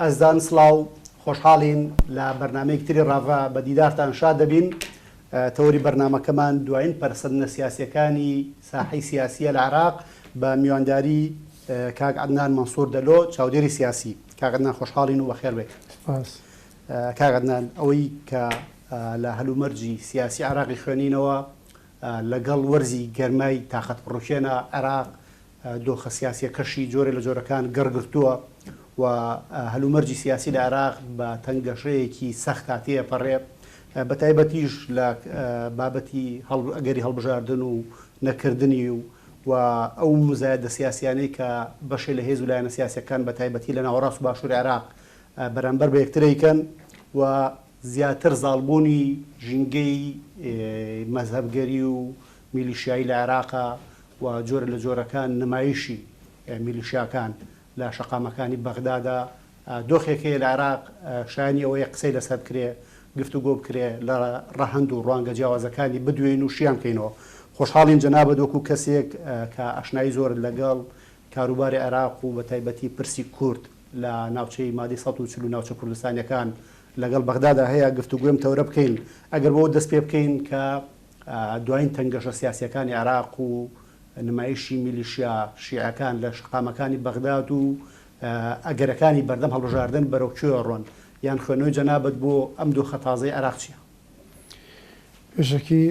ئەزدان سڵاو، خۆشحاڵین لە بەرنامەیەکی تری ڕاڤە بە دیدارتان شاد دەبین. تەوەری بەرنامەکەمان دوایین پەرەسەندنە سیاسییەکانی ساحەی سیاسییە لە عێراق بە میوانداری کاک عەدنان مەنسوور دەلۆ چاودێری سیاسی. کاک عەدنان خۆشحاڵین و بەخێر بێیت. سپاس. کاک عەدنان ئەوەی کە لە هەلومەرجی سیاسی عێراقی خوێنینەوە لەگەڵ وەرزی گەرمای تاقەتپڕووکێنە عێراق دۆخە سیاسییەکەشی جۆرێ لە جۆرەکان گڕ گرتووە و هەلومەرجی سیاسی لە عێراق بە تەنگەشەیەکی سەختا تێپەڕێ، بە تایبەتیش لە بابەتی ئەگەری هەڵبژاردن و نەکردنی و ئەو موزایەدە سیاسییانەی کە بەشێ لە هێز و لایەنە سیاسییەکان بە تایبەتی لە ناوەڕاست و باشووری عێراق بەرانبەر بە یەکتر ئەیکەن و زیاتر زاڵبوونی ژینگەی مەزهەبگەری و میلیشیایی لە عێراقە و جۆرە لە جۆرەکان نمایشی میلیشیاکان لە شەقامەکانی بەغدادا دۆخێک هەیە لە عێراق شایانی ئەوەیە قسەی لەسەر بکرێ گفتوگۆ بکرێ لە ڕەهەند و ڕوانگە جیاوازەکانی بدوێین و شیان بکەینەوە. خۆشحاڵین جەنابت وەکوو کەسێک کە ئاشنایی زۆرت لەگەڵ کاروباری عێراق و بەتایبەتی پرسی کورد، لە ناوچەی مادەی سەد و چل و ناوچە کوردستانیەکان لەگەڵ بەغدادا هەیە گفتوگۆی ئەم تەورە بکەین ئەگەر بەوە دەست پێ بکەین کە دواین تەنگەشە سیاسیەکانی عێراق و نمایشی میلیشیا شیعەکان لە شەقامەکانی بەغداد و ئەگەرەکانی بەردەم هەڵبژاردن بەرەو کوێ ڕۆن یان خوێنەوەی جەنابت بۆ ئەم دۆخە تازەی عێراق چیە؟ پێشەکی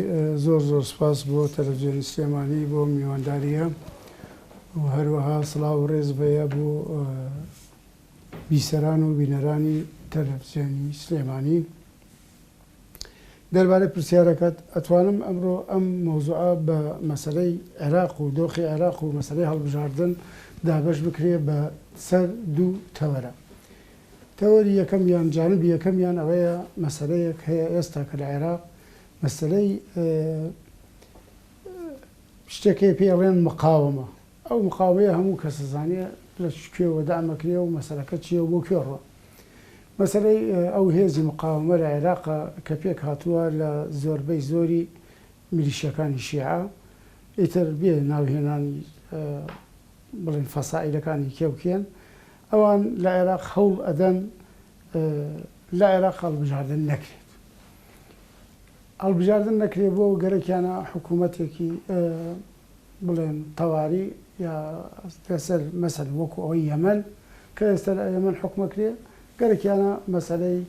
زۆر زۆر سپاس بۆ تەلەفزیۆنی سلێمانی بۆ میوانداریە و هەروەها سڵاو و ڕێز بەیە بۆ بیسەران و بینەرانی تەلەفزیۆنی سلێمانی دەربارەی پرسیارەکەت ئەتوانم ئەمڕۆ ئەم مۆزوعە بە مەسلەی عێراق و دۆخی عێراق و مەسلەی هەڵبژاردن دابش بکرێ بە سەر دوو تەوەرە تەوەری یەکەم یان جانبی یەکەمیان ئەوەیە مەسەلەیەک هەیە ئێستا کە لە عێراق مەسەلەی شتێک هەیە پێی ئەڵێن مقاومە، ئەو مقاومەیە هەموو کەس ئەزانێ لە چ کوێوە دەعم ئەکرێ و مەسەلەکە چییە و بۆ کوێ ڕوا. مەسەلەی ئەو هێزی مقاومە لە عێراقە کە پێک هاتووە لە زۆربەی زۆری میلیشیاکانی شیعە، ئیتر بێ ناوهێنانی بڵێین فەسائیلەکانی کێ و کێن، ئەوان لە عێراق هەوڵ ئەدەن لە عێراق هەڵبژاردن نەکرێت. هەڵبژاردن نەکرێت بۆ گەرەکیانە حکوومەتێکی بڵێن تەواری یا لەسەر مەسەل وەکو ئەوەی یەمەن کە ئێستا لە یەمەن حکومە کرێ گەرەکیانە مەسلەی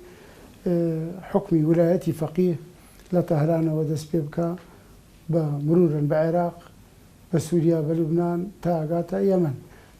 حکمی ولایەتی فەقی لە تەهرانەوە دەست پێ بکە بە مرورن بە عێراق بە سووریا بە لوبناان تاگاتە یەمەن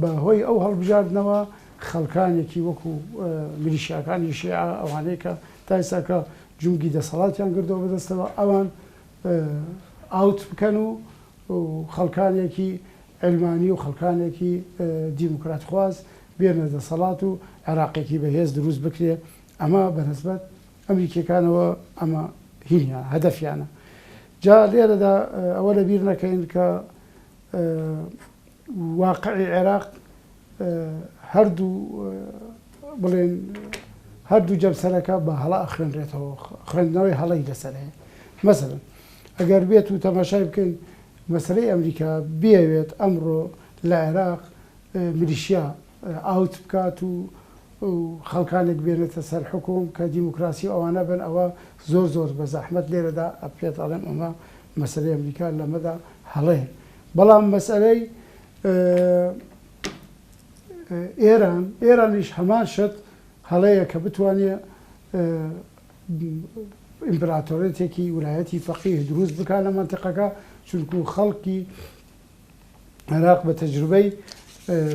بە هۆی ئەو هەڵبژاردنەوە خەڵکانێکی وەکو میلیشیاکانی شیعە ئەوانەی کە تا ئیستاکە جومگی دەسەڵاتیان گردوە بەدەستەوە ئەوان ئاوت بکەن و خەڵکانێکی عەلمانی و خەڵکانێکی دیموکرات خواز بێنە دەسەڵات و عێراقێکی بەهێز دروست بکرێ ئەمە بەنسبەت ئەمریکیەکانەوە ئەمە هینیان هەدەفیانە جا لێرەدا ئەوە لەبیر نەکەین کە واقعی عێراق هەردوو بڵێن هەردوو جەمسەرەکە بە هەڵە ئەخوێنرێتەوە خوێندنەوەی هەڵەی لەسەر هەیە مەسەرن ئەگەر بێت و تەماشای بکەین مەسلەی ئەمریکا بێوێت ئەمڕۆ لە عێراق ملیشیا ئاوت بکات و خەڵکانێک بێنێتە سەر حکوم کە دیموکراسی و ئەوانە بن ئەوە زۆر زۆر بە زەحمت لێرەدا ئەپێت ئەڵێم ئەمە مەسلەی ئەمریکا لەمەدا هەڵەیە بەڵام مەسەلەی ئێران، ئێرانیش هەمان شت هەڵەیە کە بتوانێ ئیمپراتۆریەتێکی ولایەتی فەقیه دروست بکا لە مەنتیقەکە، چونکوو خەڵکی عێراق بە تەجروبەی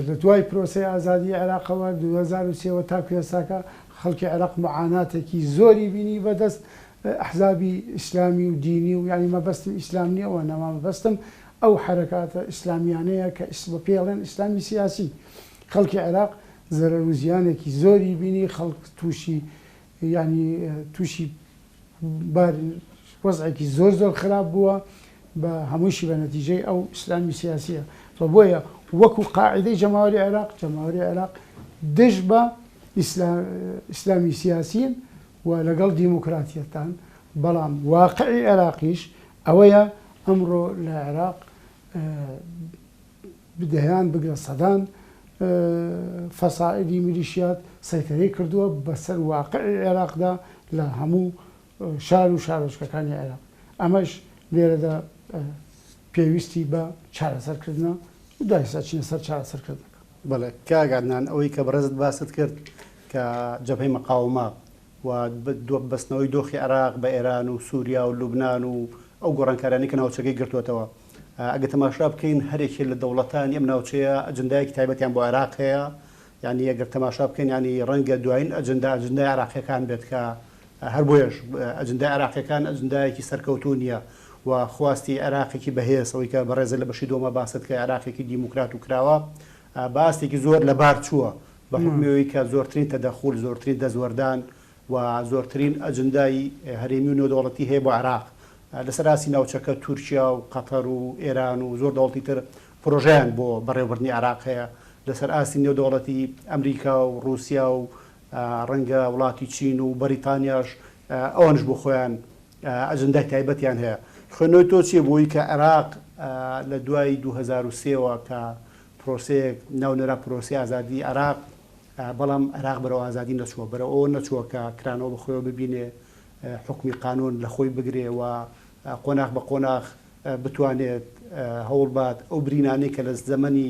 لە دوای پرۆسەی ئازادی عێراقەوە دوو هەزار و سێ وە تاکوو ئێستاکە خەڵکی عێراق معاناتێکی زۆری بینی بە دەست ئەحزابی ئیسلامی و دینی و یانی مەبەستم ئیسلام نیە و نەما مەبەستم ئەو حەرەکاتە ئیسلامیانەیە کە ئیس بە پێڵێن ئیسلامی سیاسی خەڵکی عێراق زەرەر و زیانێکی زۆری بینی خەڵک توشی یانی توشی بار وەزعێکی زۆر زۆر خراپ بووە بە هەمووشی بە نەتیجەی ئەو ئیسلامی سیاسیە بە بۆیە وەکو قاعدەی جەماوەری عێراق جەماوەری عێراق دژ بە ئیسلا ئیسلامی سیاسین و لەگەڵ دیموکراتیەتدان، بەڵام واقعی عێراقیش ئەوەیە ئەمڕۆ لە عێراق دەیان بگرە سەدان فەسائیدی میلیشیات سەیتەرەی کردووە بەسەر واقعی عێراقدا لە هەموو شار و شارۆچکەکانی عێراق ئەمەش لێرەدا پێویستی بە چارەسەرکردنە و دوای ئێستا چینە سەر چارەسەرکردنەکە. بەڵێ کاک عەدنان ئەوەی کە بەڕێزت باست کرد کە جەبهەی مەقاومە و دو بەستنەوەی دۆخی عێراق بە ئێران و سووریا و لوبنان و ئەو گۆڕانکارانەی کە ناوچەکەی گرتووەتەوە ئەگەر تەماشا بکەین هەر یەکێ لە دەوڵەتانی ئەم ناوچەیە ئەجندایەکی تایبەتیان بۆ عێراق هەیە یانی ئەگەر تەماشا بکەین یانی ڕەنگە دوایین ئەجندا ئەجندای عێراقییەکان بێت کە هەر بۆیەش ئەجندای عێراقییەکان ئەجندایەکی سەرکەوتوو نییە و خواستی عێراقێکی بەهێز، ئەوەی کە بەڕێزت لە بەشی دووەما باست کرد، عێراقێکی دیموکرات و کراوە، بە ئاستێکی زۆر لەبار چووە، بە حوکمی ئەوەی کە زۆرترین تەدەخول، زۆرترین دەستوەردان و زۆرترین ئەجندای هەرێمی و نێودەوڵەتی هەیە بۆ عێراق. لەسەر ئاستی ناوچەکە تورکیا و قەتەر و ئێران و زۆر دەوڵەتی تر پرۆژەیان بۆ بەڕێوەبردنی عێراق هەیە. لەسەر ئاستی نێودەوڵەتی ئەمریکا و ڕووسیا و ڕەنگە وڵاتی چین و بەریتانیاش ئەوانیش بۆ خۆیان ئەجندای تایبەتیان هەیە. خوێندنەوەی تۆ چیە بۆوەی کە عێراق لە دوای دوو هەزار و سێ وە کە پرۆسەیەک ناونرا پرۆسەی ئازادی عێراق بەڵام عێراق بەرەو ئازادی نەچووە بەرەو ئەوە نەچووە کە کرانەوە بە خۆیەوە ببینێ حوکمی قانوون لە خۆی بگرێ و قۆناخ بە قۆناخ بتوانێت هەوڵبات ئەو برینانەی کە لە زەمەنی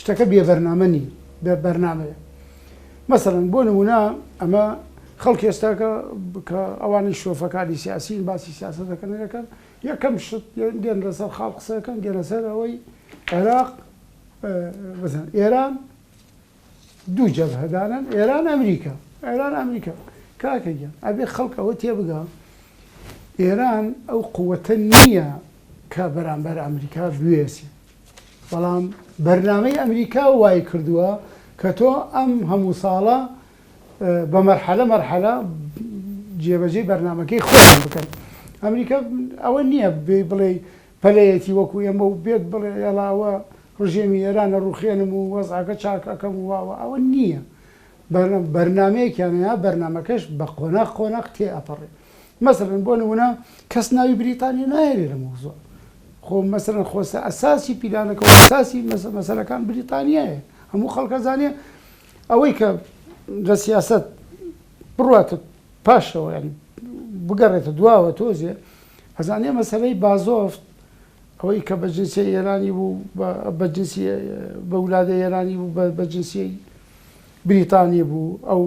شتەکە بێ بەرنامە نی بێ بەرنامەیە مەسەن بۆ نمونە ئەمە خەڵک ئێستاکە کە ئەوانی شۆفەکانی سیاسیین باسی سیاسە دەکەن دەکەن یەکەم شت دێن لەسەر خاڵ قسەکەن دێنە سەر ئەوەی عێراق ئێران دوو جەبهەدارن ئێران ئەمریکا ئێران ئەمریکا کاکە گیان ئەبێ خەڵک ئەوە تێبگا ئێران ئەو قووەتە نییە کە بەرامبەر ئەمریکا بوێسێ بەڵام بەرنامەی ئەمریکا وای کردووە کە تۆ ئەم هەموو ساڵە بە مەرحەلە مەرحەلە جێبەجێ بەرنمەکەی خۆیان بکەن ئەمریکا ئەوە نییە بێ بڵێ پەلەیەکی وەکو ئێمە و بێت بڵێ یەڵا ئەوە ڕژێمی ئێران ئەڕوخێنم و وەزعەکە چاک ئەکەم و وا وا ئەوە نییە بەرنامە بەرنامەیەکیان هەیە بەرنامەکەش بە قۆناغ قۆناغ تێ ئەپەڕێ مەسەلەن بۆ نمونە کەس ناوی بریتانیا نایەرێ لە مەوزوع خۆ مەسەلەن خۆ سە ئەساسی پیلانەکە و ئەساسی مەسە مەسەلەکان بریتانیایە هەموو خەڵک ئەزانێ ئەوەی کە لە سیاسەت بڕواتە پاشەوە یانی بگەڕێتە دواوە تۆزێ ئەزانێ مەسەلەی بازۆفت ئەوەی کە بە جنسیەی ئێرانی بوو بە بە جنسی بە ولادەی ئێرانی بوو بە بە جنسیەی بریتانی بوو ئەو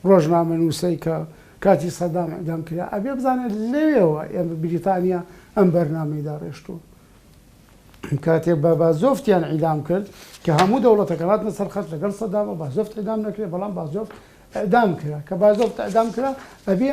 ڕۆژنامە نووسەی کە کاتی سەدام ئەدام کرا ئەبێ بزانێت لەوێەوە ئێمە بریتانیا ئەم بەرنامەی داڕێشتووە کاتێ بە بازۆفتیان ئیدام کرد کە هەموو دەوڵەتەکە هاتنە سەرخەت لەگەڵ سەدامە بازۆفت ئەدام نەکرێت بەڵام بازۆفت ئەدام کرا کە بازۆفت ئەدام کرا ئەبێ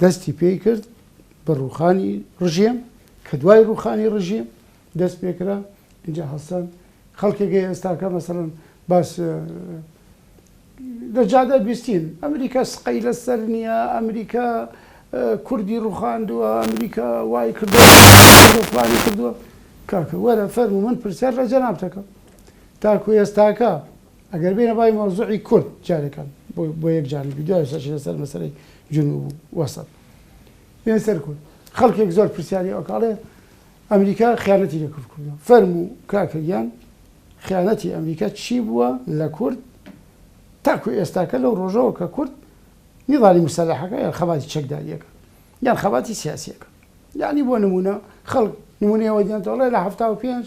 دەستی پێی کرد بە ڕووخانی ڕژێم، کە دوای ڕووخانی ڕژیم دەست پێ کرا، ئینجا هەستان خەڵکێک هەیە ئێستاکە مەسەڵەن باس لە جادە بیستین ئەمریکا سقەی لەسەر نییە، ئەمریکا کوردی ڕووخاندووە، ئەمریکا وای کردووە فلانی کردووە، کاکە وەرە فەرموو من پرسیار لە جەنابتەکەم، تاکو ئێستاکە ئەگەر بێینە بای مەوزوعی کورد جارێکە بۆ یەک جار ڤیدیۆ سەرچینە سەر مەسەلەی جنوب و وەسەت بێن سەر کورد خەڵکێک زۆر پرسیاری ئەوکاڵێ ئەمریکا خیانەتی لە کورد کردووە فەرم و کاکەگیان خیانەتی ئەمریکا چی بووە لە کورد تاکو ئێستاکە لەو ڕۆژەوە کە کورد نیڵانی مسەلحەکە یان خەباتی چەکداریەکە یان خەباتی سیاسیەکە یعنی بۆ نمونە خەڵک نمونەوە دیانتەڵێ لە هەفتا و پێنج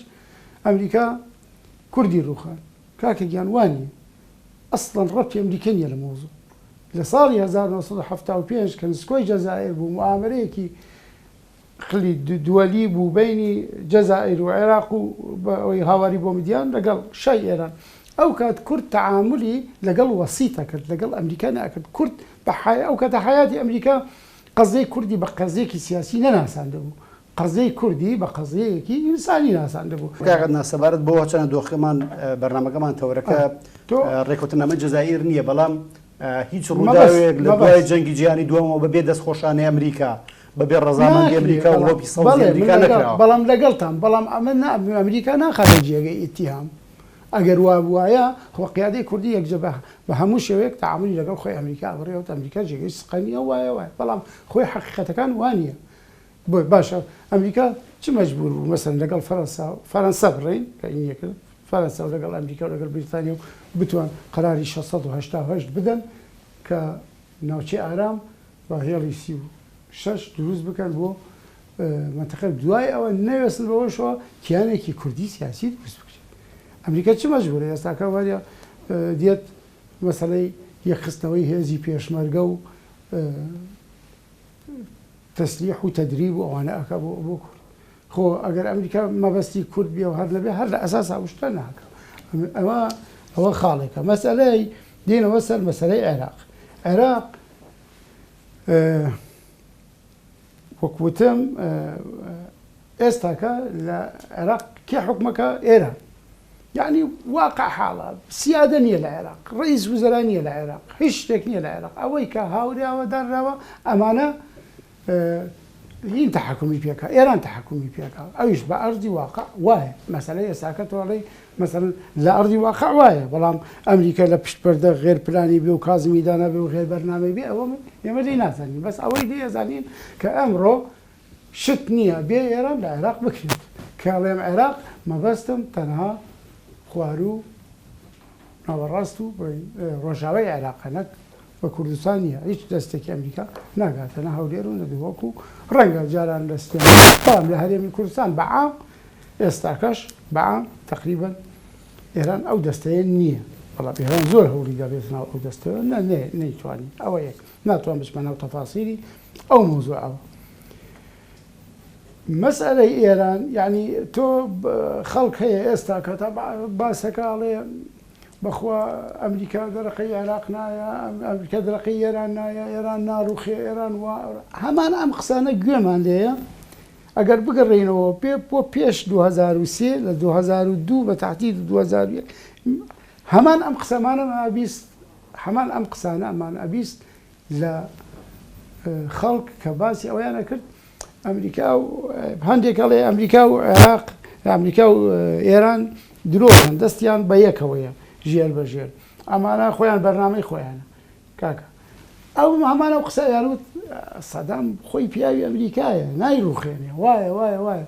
ئەمریکا کوردی ڕوخان کاکە گیان وا نیە ئەسڵەن ڕەبتی ئەمریکە نیە لە مەوزوع لە ساڵی هەزار و نۆ سەد و حەفتا و پێنج کە نسکۆی جەزائیر بوو موئامەرەیەکی خلی دوەلی بوو بەینی جەزائیر و عێراق و بە ئەوەی هاواری بۆ مدیان لە گەڵ شای ئێران ئەو کات کورد تەعامولی لە گەڵ وەسیت ئەکرد لە گەڵ ئەمریکا نەئەکرد کورد بە حەیا ئەو کاتە حەیاتی ئەمریکا قەزیەی کوردی بە قەزیەکی سیاسی نەناساندبوو قەزیەی کوردی بە قەزیەیەکی ئینسانی ناساندبوو. کاک عەدنان سەبارەت بەوە چەنە دۆخەکەمان بەرنامەکەمان تەوەرەکە رێکەوتنامەی جەزائیر نییە بەڵام هیچ رووداوێک لە دوای جەنگی جیهانی دووەمەوە بەبێ دەستخۆشانەی ئەمریکا بەبێ رەزامەندی ئەمریکا و لۆپی سەوزی ئەمریکا نەکراوە. بەڵام لەگەڵتام بەڵام ئەمە نا ئەمریکا ناخاتە جێگەی ئیتیهام ئەگەر وا بوایە خۆ قیادەی کوردی یەکجە بە هەموو شێوەیەک تەعامولی لەگەڵ خۆی ئەمریکا ئەبڕیەوە ئەمریکا جێگەی سقە نییە وایە وایە بەڵام خۆی حەقیقەتەکان وا نییە بۆیە باشە ئەمریکا چ مەجبوور بوو مەسەن لەگەڵ فەرەنسا و فەرەنسا بڕێین کە ئی نیەکرد فەرەنسا و لەگەڵ ئەمریکا و لەگەڵ بریتانیا و بتوان قەراری شەش سەد و هەشتا و هەشت بدەن کە ناوچەی ئارام و هێڵی سی و شەش دروست بکەن بۆ مەنتەقە و دوای ئەوە نەوێستن بەوەشەوە کیانێکی کوردی سیاسی دروست بکرێت ئەمریکا چ مەجبوورە ئێستاکە وارە دێت مەسەلەی یەکخستنەوەی هێزی پێشمەرگە و تەسلیح و تەدریب و ئەوانە ئەکا بۆ بۆ کورد خۆ ئەگەر ئەمریکا مەبەستی کورد بێ و هەر نەبێ هەر لە ئەساس ئەو شتە ناکا ئەوە ئەوە خاڵێکە مەسەلەی دێنەوە سەر مەسەلەی عێراق عێراق وەک وتم ئێستاکە لە عێراق کێ حوکمەکە؟ ئێران. یەعنی واقع حاڵە. سیادە نییە لە عێراق. ڕەئیس وزەرا نییە لە عێراق. هیچ شتێک نییە لە عێراق. ئەوەی کە هاوراوە دانراوە ئەمانە هین تەحەکومی پێکا. ئێران تەحەکومی پێکا. ئەویش بە ئەرزی واقع وایە. مەسەلەی ئێستاکە تۆ ئەڵێی مەسەلەن لە ئەرزی واقع وایە، بەڵام ئەمریکا لە پشت پەردە غێر پلانی بێ و کازمی دانابێ و غێر بەرنامەی بێ ئەوە ئێمە لێی نازانین. بەس ئەوەی لێ ئەزانین کە ئەمڕۆ شت نیە بێ ئێران لە عێراق بکرێت کە ئەڵێم عێراق مەبەستم تەنها خواروو ناوەڕاست و ڕۆژاوای عێراقە نەک بە کوردستان نیە هیچ دەستێکی ئەمریکا ناگاتە نە هەولێر و نەدووەک و ڕەنگە جاران لە سلێمان لە هەرێمی کوردستان بەعام ئێستاکەش بەعام تقریبن ئێران ئەو دەستەیە نییە بەڵام ئێران زۆر هەوڵی دەبێت ناو ئەو دەستەوە نە نەیتوانی ئەوە یەک ناتوان بچمە ناو تەفاسیری ئەو مەوزوعە و مەسەلەی ئێران یانی تۆ خەڵک هەیە ئێستا کە تا باسەکە ئەڵێ بەخوا ئەمریکا دەرەقەی عێراق نایە ئەمریکا دەرەقەی ئێران نایە ئێران ناڕوخێ ئێران وا هەمان ئەم قسانە گوێمان لێە ئەگەر بگەڕێنەوە پێ بۆ پێش 2023 لە 2002 بە تاتی 2001 هەمان ئەم قسەمانە مابیست هەمان ئەم قسانە ئەمان ئەبیست لە خەڵک کە باسی ئەوەیان ئەکرد ئەمریکا و هەندێک ئەڵێ ئەمریکا و عێراق ئەمریکا و ئێران درۆکەن دەستیان بە یەکەوەیە ژێر بە ژێر ئەمانە خۆیان بەرنامەی خۆیانە کاکە ئەو هەمانە و قسە یاروت سەدام خۆی پیاوی ئەمریکایە نایڕوخێنێ وایە وایە وایە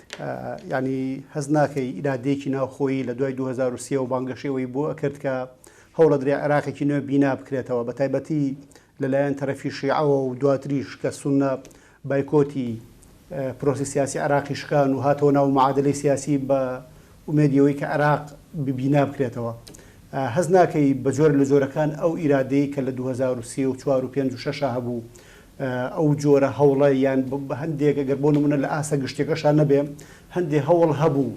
یانی هەست ناکەی ئیرادەیەکی ناوخۆیی لە دوای 2023 و بانگەشەوەی بۆ ئەکرد کە هەوڵەدرێ عێراقێکی نوێ بینا بکرێتەوە بە تایبەتی لەلایەن تەرەفی شیعەوە و دواتریش کە سونە بایکۆتی پرۆسی سیاسی عراقی شکان و هاتەوە ناو معادلی سیاسی بە ئومێدیەوەی کە عراق ببینا بکرێتەوە هەز ناکەی بە جۆر لە جۆرەکان ئەو ئیرادەی کە لە 2024 و 5 و 6 هەبوو ئەو جۆرە هەوڵە یان هەندێک گەر بۆ نمونە لە ئاستە گشتیەکەشا نەبێ هەندێ هەوڵ هەبوو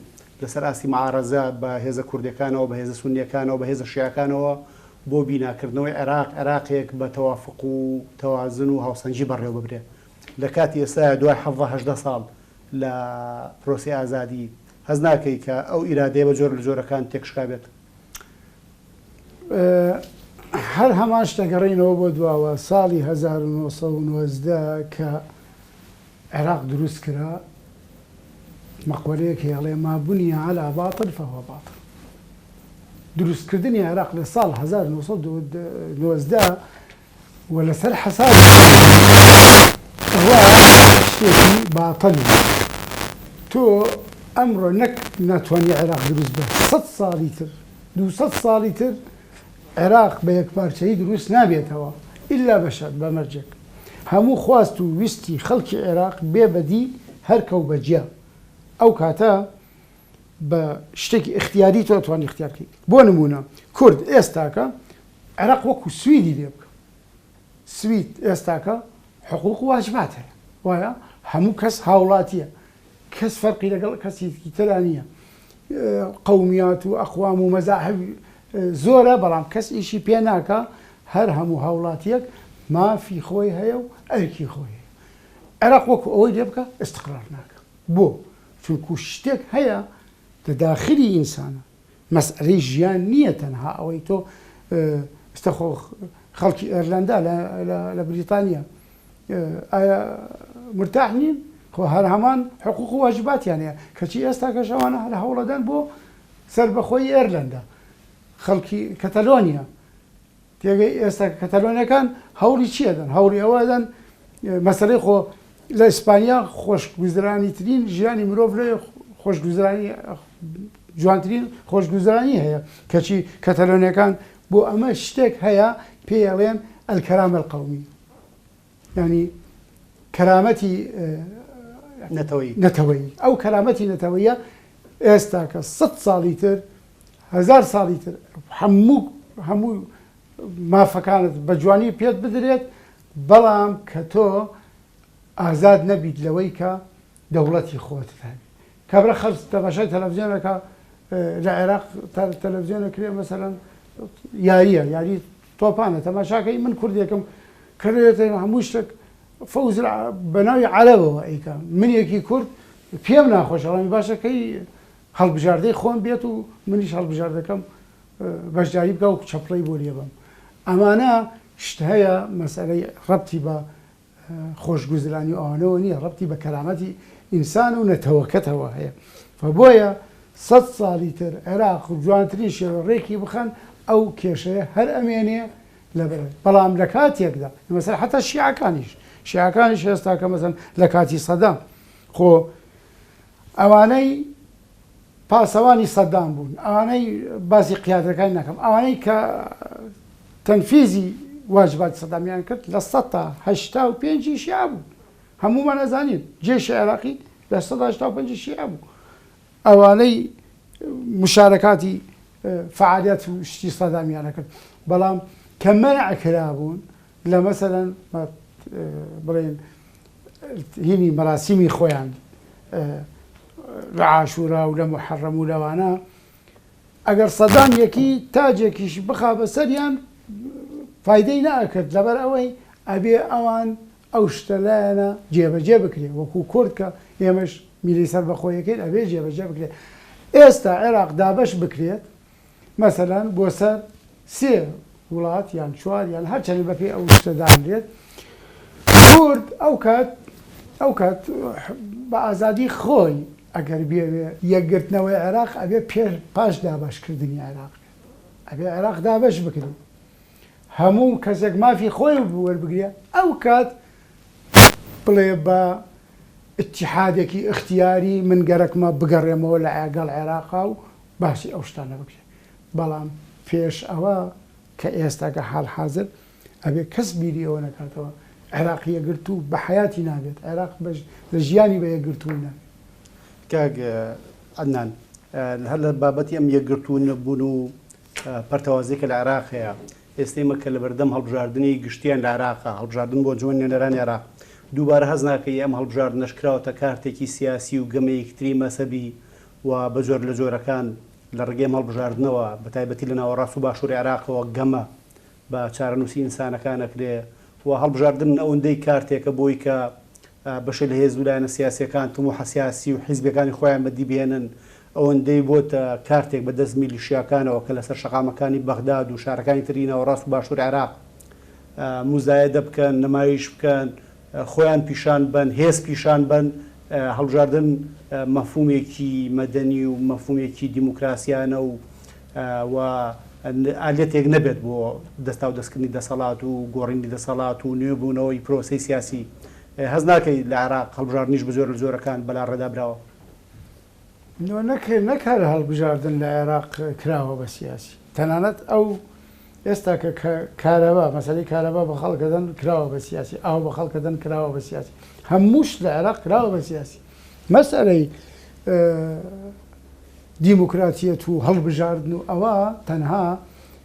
لەسەر ئاستی معارەزە بە هێزە کوردەکانەوە بە هێزە سونیەکانەوە بە هێزە شیعەکانەوە بۆ بینا کردنەوەی عێراق عێراقێک بە تەوافق و تەوازن و هاوسەنگی بەڕێوە ببرێ لە کاتی ئێستایا دوای حەڤدە هەژدە ساڵ لە پرۆسەی ئازادی هەست ناکەی کە ئەو ئیرادەیە بە جۆرە لە جۆرەکان تێکشکابێت؟ هەر هەمان شتە گەڕێینەوە بۆ دواوە ساڵی هەزار و نۆ سەد و نۆزدە کە عێراق دروست کرا مەقولەیەک هەیە ئەڵێ ما بنی علی باطل فهو باطل دروست کردنی عێراق لە ساڵ هەزار و نۆ سەد و نۆزدە و لەسەر حەسابی خۆیان ئەوە شتێکی باتڵی تۆ ئەمڕۆ نەک ناتوانی عێراق دروست بە سەد ساڵی تر دوو سەد ساڵی تر عێراق بە یەکپارچەیی دروست نابێتەوە ئیلا بە شەرت بە مەرجێک هەموو خواست و ویستی خەڵکی عێراق بێ بەدی هەرکە و بەجیا ئەو کاتە بە شتێکی ئیختیاری تۆ توانی ئیختیار کەیت بۆ نموونە کورد ئێستاکە عێراق وەکو سویدی لێ بکە. سوید ئێستاکە حقوق و واجبات هەیە وایە؟ هەموو کەس هاوڵاتیە کەس فەرقی لەگەڵ کەسیکی ترا نییە قومیات و ئەقوام و مەزاحب زۆرە بەڵام کەس ئیشی پێ ناکە هەر هەموو هاوڵاتیەک مافی خۆی هەیە و ئەرکی خۆی هەیە عێراق وەکو ئەوەی لێ بکە ئستقرار ناکە بۆ؟ چونکو شتێک هەیە لە داخلی ئینسانە مەسئەلەی ژیان نییە تەنها ئەوەی تۆ ئێستا خۆ خەڵکی ئێرلەندا لە بریتانیا ئایا مرتاح نین خۆ هەر هەمان حقوق و واجباتیان هەیە کەچی ئێستا کەش ئەوانە هەر هەوڵەدەن بۆ سەربەخۆی ئێرلەندا خەڵکی کەتەلۆنیا تێگەی ئێستا کەتەلۆنیەکان هەوڵی چی ئەدەن؟ هەوڵی ئەوە ئەدەن مەسەلەی خۆ لە ئیسپانیا خۆشگوزرانی ترین ژیانی مرۆڤ لێ خۆشگوزرانی جوانترین خۆشگوزرانی هەیە کەچی کەتەلۆنیەکان بۆ ئەمە شتێک هەیە پێیڵێن ئەلکەرامەل قومی یانی کەرامەتی نەتەوەیی نەتەوەیی ئەو کەرامەتی نەتەوەیە ئێستا کە سە ساڵی تر هزار ساڵی تر هەموو هەموو مافەکانت بە جوانی پێت بدرێت بەڵام کە تۆ ئازاد نەبیت لەوەی کە دەوڵەتی خۆت هەبی کابرا خەرج تەماشای تەلەفزیۆن ئەکا لە عێراق تەلەفزیۆن ئەکرێ مەسەلەن یاریە یاری تۆپانە تەماشاکەی من کوردێکم کردێتە هەموو شتێک فەوز بەناوی عەرەبەوە ئەیکا من یەکی کورد پێم ناخۆشەڵامی باشەکەی هەڵبژاردەی خۆم بێت و منیش هەڵبژاردەکەم بەشداری بکە و چەپڵەی بۆ لێبم ئەمانە شت هەیە مەسەرەی ڕەتی بە خۆشگوزرانی و ئەوانەوە نیە ڕەبتی بە کەرامەتی ئینسان و نەتەوەکەتەوە هەیە و بۆیە سەد ساڵی تر عێراق جوانترین شێوە ڕێکی بخەن ئەو کێشەیە هەر ئەمێنێ لەبەر بەڵام لە کاتێکدا مەسەلەن حەتا شیعەکانیش شیعەکانیش هێستاکە مەسەلەن لە کاتی سەدام خۆ ئەوانەی پاسەوانی سەدام بوون ئەوانەی باسی قیادەکانی ناکەم ئەوانەی کە تەنفیزی واجباتی سەدامیان کرد لە سەد تا هەشتا و پێنج شیعە بوون هەموومان ئەزانین جێشی عێراقی لە سەد تا هەشتا و پێنج شیعە بوو ئەوانەی مشارەکاتی فعالیت و شتی سەدامیانە کرد بەڵام کە مەنع کرابوون لە مەسەلەن بڵێن هینی مەراسیمی خۆیان لە عاشورا و لە محەڕەم و لەوانە ئەگەر سەدان یەکی تاجێکیش بخا بەسەریان فیدەی ناکرد لەبەر ئەوەی ئەبێ ئەوان ئەو شتە لایەنە جێبەجێ بکرێ وەکو کورد کە ئێمەش میلی سەر بەخۆیەکەین ئەبێ جێبەجێ بکرێت ئێستا عێراق دابش بکرێت مەسەلەن بۆ سەر سێ وڵات یان چوار یان هەر چەنێ بەپێی ئەو شتە دانرێت کورد ئەو کات ئەو کات بە ئازادی خۆی ئەگەر بێوێ یەکگرتنەوەی عێراق ئەبێ پێ پاش دابەشکردنی عێراق بێت ئەبێ عێراق دابەش بکرێت هەموو کەسێک مافی خۆی وەربگرێ ئەو کات بڵێ بە اتحادێکی ئختیاری من گەرەکمە بگەڕێمەوە لە ئاگەڵ عێراقا و باسی ئەو شتانە بکرێ بەڵام پێش ئەوە کە ئێستاکە حال حازر ئەبێ کەس بیری ئەوە نەکاتەوە عێراق یەکگرتوو بە حیاتی نابێت عێراق بەش لە ژیانی بە یەکگرتووی نابێت کاک عەدنان هەر لە بابەتی ئەم یەکگرتوو نەبوون و پەرتەوازی کە لە عێراق هەیە ئێستەی مەکە لە بەردەم هەڵبژاردننی گشتیان لە عراقا هەڵبژاردن بۆ جوان نوێنەران عێراق دووبارە هەز ناکەی ئەم هەڵبژاردنەش کراوەتە کارتێکی سیاسی و گەمەیەکتری مەسەبی و بە جۆر لە جۆرەکان لە ڕێگەی مەڵبژاردنەوە بە تایبەتی لە ناوەڕاست و باشووری عێراقەوە گەمە بە چارەنووسی ئینسانەکان ئەکرێ و هەڵبژاردن ئەوندەی کارتێکە بۆی کە بەشێ لە هێز و لایەنە سیاسییەکان تموحە سیاسی و حیزبیەکانی خۆیان بەدی بهێنن ئەوەندەی بۆتە کارتێک بە دەست میلیشیاکانەوە کە لەسەر شەقامەکانی بەغداد و شارەکانی تری ناوەڕاست و باشووری عێراق موزایەدە بکەن، نمایش بکەن. خۆیان پیشان بەن، هێز پیشان بەن، هەڵبژاردن مەفهومێکی مەدەنی و مەفهومێکی دیموکراسیانە و و ئالەتێک نەبێت بۆ دەستاودەستکردنی دەسەڵات و گۆڕینی دەسەڵات و نوێبوونەوەی پرۆسەی سیاسی، هەست ناکەی لە عێراق هەڵبژاردنیش بە جۆرە لە جۆرەکان بەلاڕێدا براوە؟ نۆ نەک نەک هەر هەڵبژاردن لە عێراق کراوە بە سیاسی تەنانەت ئەو ئێستا کە کە کارەبا مەسەلەی کارەبا بە خەڵک دەدەن کراوە بە سیاسی ئاو بە خەڵک دەدەن کراوە بە سیاسی هەموو شت لە عێراق کراوە بە سیاسی مەسەلەی دیموکراتیەت و هەڵبژاردن و ئەوە تەنها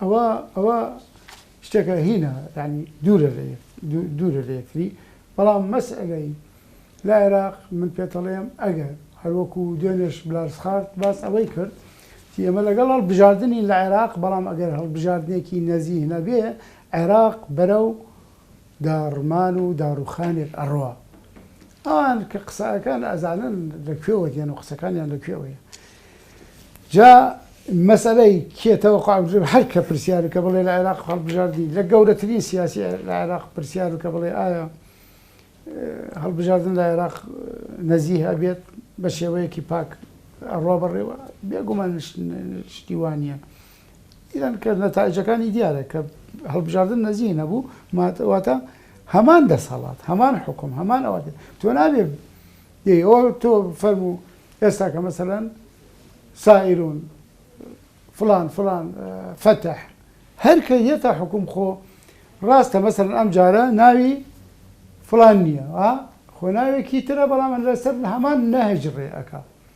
ئەوە ئەوە شتێکە هینە یعنی دوورە لە یەک دوورە لە یەکتری بەڵام مەسئلەی لە عێراق من پێتەڵێم ئەگەر هەروەکو دێنێش بلارسخارت باس ئەوەی کرد ئێمە لەگەڵ هەڵبژاردننی لە عێراق بەڵام ئەگەر هەڵبژاردنێکی نەزیه نەبێ عێراق بەرەو داڕمان و داڕوخانێک ئەڕوا ئەوان کە قسەئەکەن ئەزانن لە کوێوە دێن و قسەکانیان لە کوێوەیە جا مەسەلەی کێ تەوەقع بژێ هەر کە پرسیار و کە بڵێ لە عێراق هەڵبژاردی لە گەورەترین سیاسی لە عێراق پرسیار و کە بڵێ ئایا هەڵبژاردن لە عێراق نەزیه ئەبێت بە شێوەیەکی پاک ئەڕوا بەڕێوە بێگومان شتی وانە ئیران کە نەتایجەکانی دیارە کە هەڵبژاردن نەزیه نەبوو واتە هەمان دەسەڵات هەمان حکوم هەمان ئەوە تۆ نابێ ئەوە تۆ فەرمو ئێستا کە مەسەەن سائرون فلان فلان فتح هەر کە یەتە حکوم خۆ ڕاستە مەسەرن ئەم جارە ناوی فلان نییە خۆ ناوێکی ترە بەڵام لەسەر هەمان نەهج ڕێ ئەک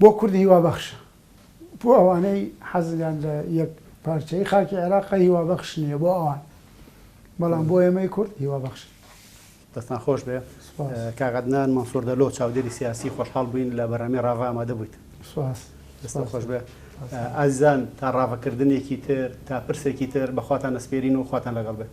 بۆ کورد هیوابەخشە، بۆ ئەوانەی حەزیان لە یەک پارچەیی خاکی عێراقە هیوابەخش نییە بۆ ئەوان، بەڵام بۆ ئێمەی کورد هیوابەخشە. دەستتان خۆش بێ کاک عەدنان مەنسور دەلۆ چاودێری سیاسی خۆشحاڵ بووین لە بەرنامەی ڕاڤە ئامادە بوویت. سوپاس. دەستتان خۆش بێ. ئازیزان تا ڕاڤەکردنێکی تر، تا پرسێکی تر بە خواتان ئەسپێرین و خواتان لەگەڵ بێت.